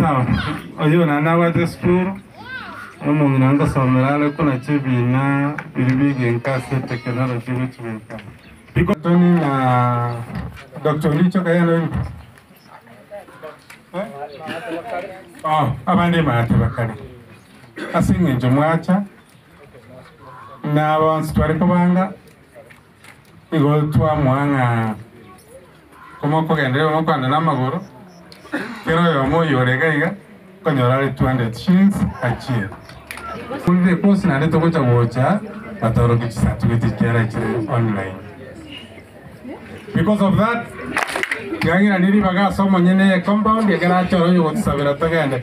Sawa, oyio naende nabwate esukuru, omong'ina ngosomera are buna chibina biri bigenka ase technology gochibeka. Riko- Tony na Doctor Olicho kaye nabo ingo? Eh? Oh, abande maate bakare. Ase eng'encho mwacha, na bonsi tware kobanga Nigo twamoa ng'a komokogenderera igo mokoanda namagoro, kera oyomo oyio ore iga iga nkonyora are 200 shillings achie. Korire ecourse naende togocha gocha batorokia chicertificate ekiara chire online. Because of that, tiagera ne ribaga ase omonyene eye compound ekero achore oyogosabera togende.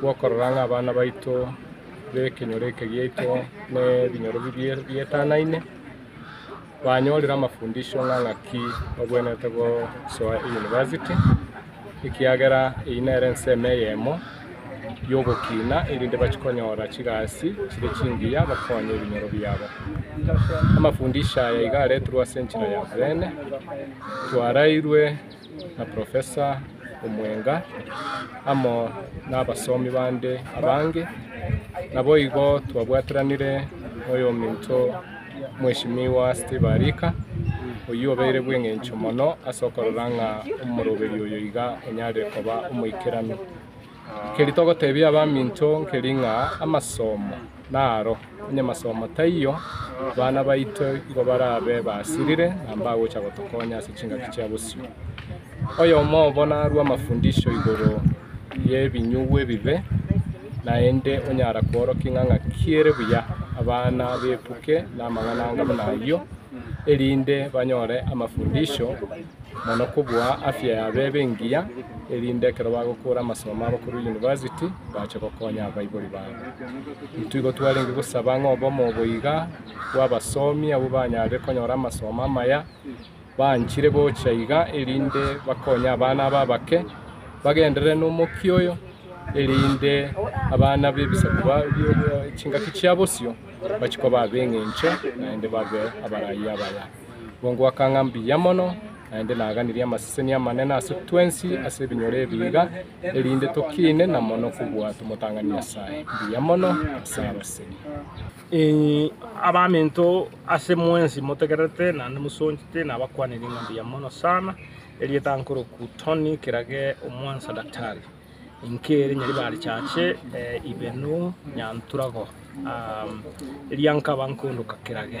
bw'okorora ng'a abana baito b'ekenyoro eke giaito nebinyoro bibie bietanaine, banyorire amafundisho ng'a ng'aki babwenerete gosoa eyunivasiti, ekiagera eyio nere ensemo eyemo y'ogokina erinde bachie konyora chigasi chire chingiya bakonye ebinyoro biabo. Amafundisho aya iga aretirwe ase enchera ya oboyene, twarairwe. na Profesa omwenga, amo nabasomi bande abange, naboigo twabwataranire noyominto Mweshimiwa Steve Arika, oyio obeire bweng'encho mono ase okorora ng'a omoroberi oyo iga onyare koba omoikeranu. Nkeri togotebia abaminto nkeri ng'a amasomo naro, onye amasomo taiyo, abana baito igo barabe basirire na mbagocha gotokonya ase chingaki chia bosio. Oyomo obo narue amafundisho igoro y'ebinyugu ebibe, naende onyara kworokia ng'a ng'aki ere buya. Abana bebuke namang'ana anga buna ayio, erinde banyore amafundisho. mono kobua afya y'abebe engiya, erinde ekero bagokora amasomo abo korwa yunivasiti bache gokonya abaibori babo. Intwe igo twarenge gosaba ng'a obomo obo iga bw'abasomi abwo banyarire konyora amasomo amaya, banchire gocha iga erinde bakonye abana aba abake, bagenderere n'omokia oyo, erinde abana b'ebisaku ba- bie- chingaki chia bosio bachie koba ab'eng'encho naende babe abarayia abaya. Boongo aka ng'a mbuya mono, naende naganirie amaseseni amanene ase twensi ase ebinyoro ebiiga, erinde tokiine na mono kobua tomotang'ani Nyasae mbuya mono ase abaseni. Inwe abaminto, ase mwensi motegererete naende mosonchete, nabakwanire ng'a mbuya mono sana. Erieta nkoroku Tony kerage omwansa daktari, inki ere Nyaribari Church, Ibenu, Nyanturago, eria nkaba nkoondoka kerage.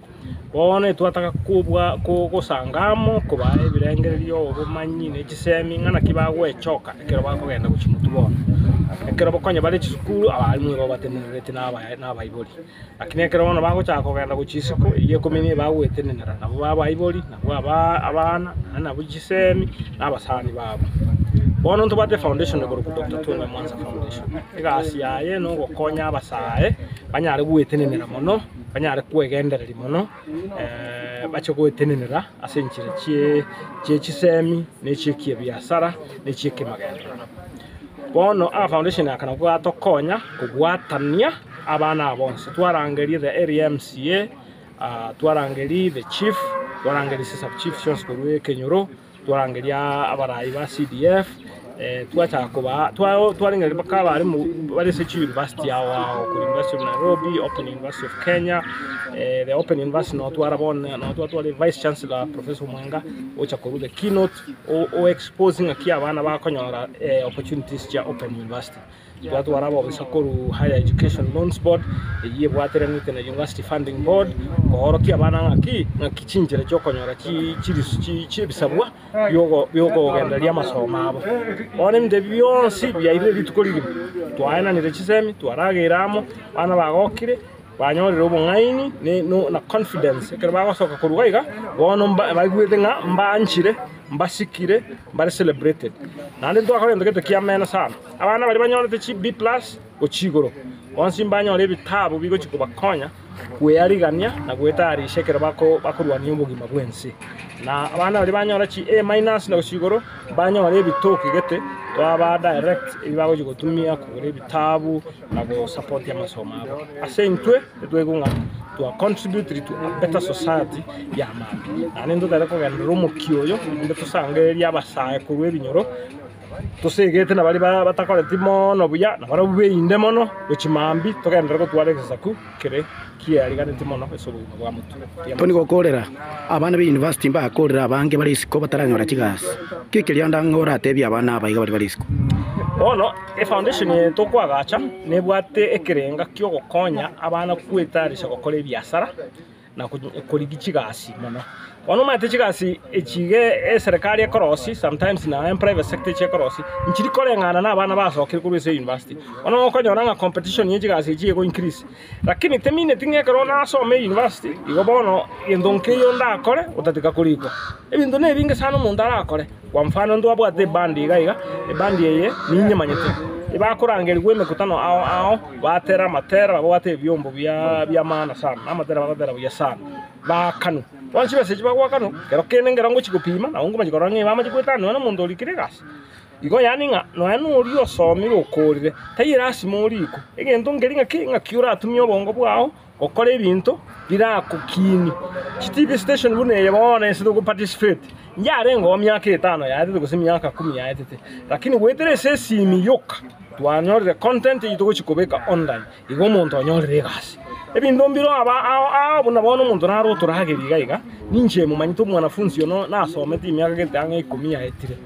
Bono etwataka kobua kogosanga amo, kobaa ebirengererio, obomanyi, ne chisemi, ng'a naki bagwechoka ekero bakogenda gochia motwe bono. Ekero konya bare chisukuru, abaarimwa nigo babatenenereti na aba- na abaibori. Lakini ekero bono bagochaka kogenda gochia isiko eyio ikomi nigo bagoetenenera, nabo ba abaibori, nabo abaa abana, na nabwo chisemi, na abasani babo. Bono ntobwate efoundation korokwa Doctor Tony Mwanza Foundation. Egasi yaye na ogokonya abasae, banyare goetenenera mono. banyare kwegendereria mono, bache goetenenera ase enchera chie chisemi, na ebiasara, na echi'ekemagenderano. Bono aa foundation aka nabo gatokonya kobwatania abana aba bonsi, twarangeria the area mca, twarangeria the chief, twarangeria chisubchief chionsi korwa ekenyoro. Twarangeria abarai ba CDF, twachaka kobaa, twarengereria mpaka abare bare ase chiuniversity ao ao, korwa University of Nairobi, Open University of Kenya, the Open University nonya twara bono, nonya nonya twatwara vice chancellor Professor Omwenga, ogocha korwa the keynote, o exposie ng'aki abana bakonyora opportunities chia Open University. Twatwara abobisa korwa Higher Education Loans Board, eyio ebwatiranete na University Funding Board, koorokia abana ng'aki ng'aki chinchera chi'okonyora chi chirisu chi chi'ebisabwa bi'ogo bi'okogendereria amasomo abo. Bono ebinto ebi bionsi biairire rituko rigima. Twaenanire chisemi, twarageire amo, abana bagokire, banyorire obong'aini ne no na confidence ekero bagosoka korwa iga iga, bono mba baigwete ng'a mbaanchire, mbasikire, mbare celebrated. Naende ntwakora egento gento kiameno sana. Abana baria banyorete chi B+ gochia igoro bonsi mbanyore ebitabu bigochia kobakonya kwearigania na gwetayarisha ekero bakorwania obogima bw'ense. Na abana baria banyora chi A- na gochia igoro mbanyore ebitoki gete twaba direct ebi bagochia gotumia kogora ebitabu na gosapotia amasomo abo. Ase intwe nitwaigwe ng'a twa contribute to a better society ya maambia. Naende intwe tari kogenderera omokia oyo naende tosangererie abasae korwa ebinyoro. Tosegete na baria batakoreti mono buya, na barabwo beinde mono ne chimambi, togenderere gotwara egesaku kere kiariganeti mono ase obogima bwa motwe. Toni gokorera, Abana be university mbakorera abange bare isiko bataranyora chigasi. Ki ekerio ande ang'e oratebie abana aba iga baria bare isiko? Bono, efoundation eye tokoagacha nebwate ekerenga ki'ogokonya abana kwetayarisha gokora ebiasara. na korigia chigasi mono. Bono omanyete chigasi echi iga eserekari ekorosia sometimes na en private sector echi ekorosia, nchiri koreng'ana na abana basokire korwa ase eyunivasiti. Bono okonyora ng'a competition ye chigasi echi ego increase, rakini temineti ng'a ekero nasome eyunivasiti, igo bono gento nkeiyo ndakore, otatiga korikwa. Ebinto na ebinge sana omonto arakore. Kwa mfano, ntwabwate ebandi iga iga, ebandi eye ninye manyete. Tibakorangerigwa emekutano ao ao, batera amatera, babwate ebiombo bi'amaana sana, na amatera bagatera buya sana. Baakanu. Bonsi b'ense echi bagwo bakanu, kero kende ngero ngochia gopima, nabo nkomanya korora ng'a igo amache goetanwa nomonto orikire egasi. Igo yaani ng'a nonya noria osomire okoorire, taiyo lasima orikwe. Egento nkeria ng'a ki? Ng'aki oratumie obongo bwao. Gokora ebinto birakokinie. Chi TV station buna eye bono ase togo participate yarengeo miaka etano yaetete gose miaka kumi yaetete lakini goetera ase esimi yoka twanyorire content eyio togochi kobeka online igo omonto onyorire egasi. Ebinto mbire aba ao ao buna bono omonto naro otoragerie iga iga ninche momanyete omwanafunzi ono nasomete emiaka gete ang'e ikomi yaetire.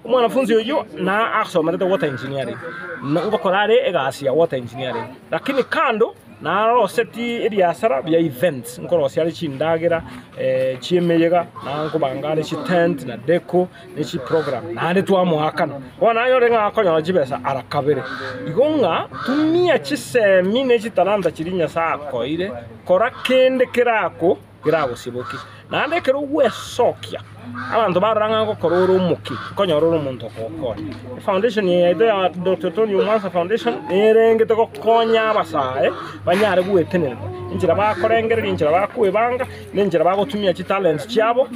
Omwanafunzi oyio na asomerete water engineering, ngokora are egasi ya water engineering lakini kando. Narosetie ebiasara bia events, nkorosia are chindagera chi'emeyega, na nkobanga are chi'tent, na deco, ne chi'program, naende twamoakana. Bono nanyore ng'a akonyora chibesa ara kabere. Igo ng'a tumia chisemi ne chitalanta chiria Nyasae akoeire, kora kende kerako. keragosibokie. Naende ekero ogwesokia abanto barora ng'a gokora ore omoke, nkonyora ore omonto okogokonya. Efoundation eye yaito ya Doctor Tony Omwansa Foundation niyo erengete gokonya abasae banyare goetenererwa enchera bakorengereria, enchera bakoebanga, na enchera bagotumia chitalent chiabo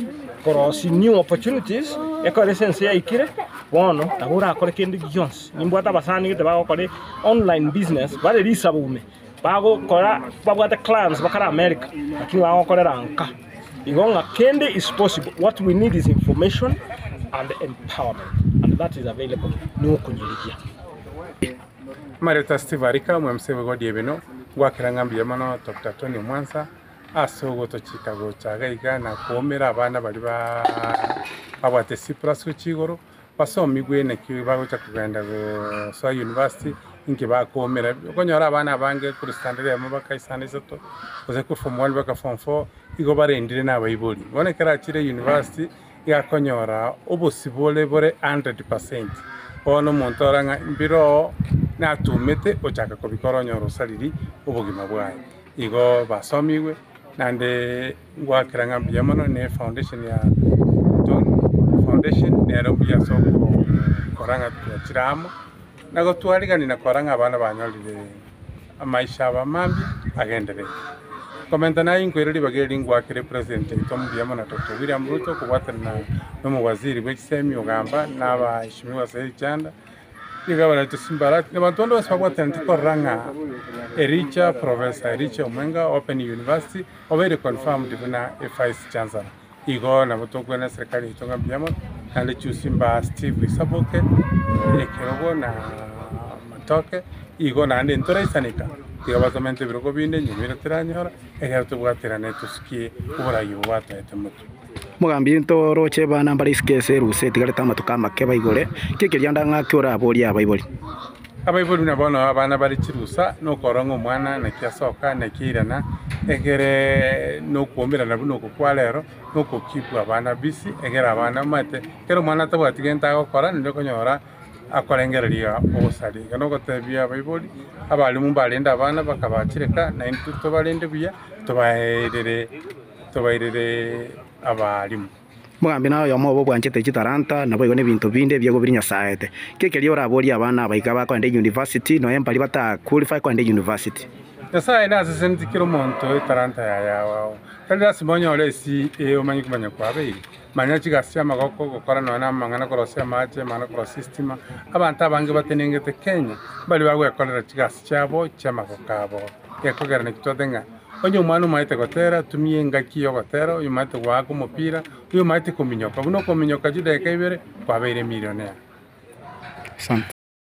korosia new opportunities, ekero ase ense yaikire bono nabo orakore kende gionsi. Nimbwate abasani gete bagokora online business bare risaboome. bagokora babwate clans bakare America lakini bagokorera nka igo ng'a kende is possible what we need is information and empowerment and that is available na okonyariria. Amareta Steve Arika, omwemisa oboigo o Diebeno, Ngwakera ng'a mbuya mono Doctor Tony Omwansa ase ogotochika gocha iga iga na koumera abana baria ba babwate chipurasuchi igoro. Basomigwe naki bagocha kogenda gosoa university, inki bakoumera. Okonyora abana abange korwa standard emo baka esande isato, gose korwa form one baka form four, igo barendire na abaibori. Bono ekero achire university, iga akonyora obosibore bore hundred percent. Bono omonto ore ng'a mbire oo natumete ochaka kobikora onyore osariri obogima bwaye. Igo basomigwe naende Ngoakera ng'a mbuya mono ne foundation ya Tongu foundation nero mbuya ase ogokora ng'a twachire amo na gotwarigani na kora ng'a abana banyorire amaisha abo amambia agenderete. Nkomenta naye inkoire ribaga eri ngoakere president oito mbuya mono Dr. William Ruto kobwatanana na omowaziri bwe chisemi ogamba na abaeshimiwa ase richanda. Nigo abarentwe Simbarati na abanto bande bonsi babwatanete korora ng'a Ericha Professor Ericha Omwenga Open University obeire confirmed buna Vice Chancellor. Igo nabo tokogwena eserekari yaito ng'a mbuya mono naende Chusi Mbaa Steve Isaboke, Ekerogo na Matoke igo naende ntoraisanika tiga basomete ebirogo binde nyomira teranyora ekiagera tobwate rane tosukie oboraio obo batoete moke. Mogambi into oroche abana mbare isiko ase erusa etigarete amatuko amake baigore, ki ekeriando ng'aki oraborie abaibori? Abaibori buna bono abana bare chirusa, nokorora ng'a omwana naki asoka, naki airana, egere nokoomberana buna oko kwa rero, noko keep abana busy, egere abana omanyete ekero omwana atabwati gento agokora naende okonyora akorengereria ogosaria. Igo nogotebia abaibori, abalimu mbarende abana bakabachireka, naintwe tobarende buya, tobaeirire. tobairire abaalimu. Mogambi na oyomo obo obwanchete chitalanta naboigo nebinto binde ebiago biri nyasaete. Ki ekerio oraborie abana aba iga bakoenda eyunivasiti, nonya mbari bata qualify koenda eyunivasiti? Nyasae naseseneti kera omonto etalanta yaye agao. Tari lasima onyore esi ee omanye okomanya kwabeire. Manya chigasi chiamagoko, gokora nonya namang'ana korosia amache, amang'ana korosia estima. Abanto abange batenengete Kenya mbari bagwekorera chigasi chiabo chiamagoko abo. Gekogera naki twabate ng'a onye omwana omanyete gotera, tumia engaki y'ogotera, oyomanyete goaka omopira, oyomanyete kominyoka, buna okominyoka chidakika ibere, kwabeire emilionea.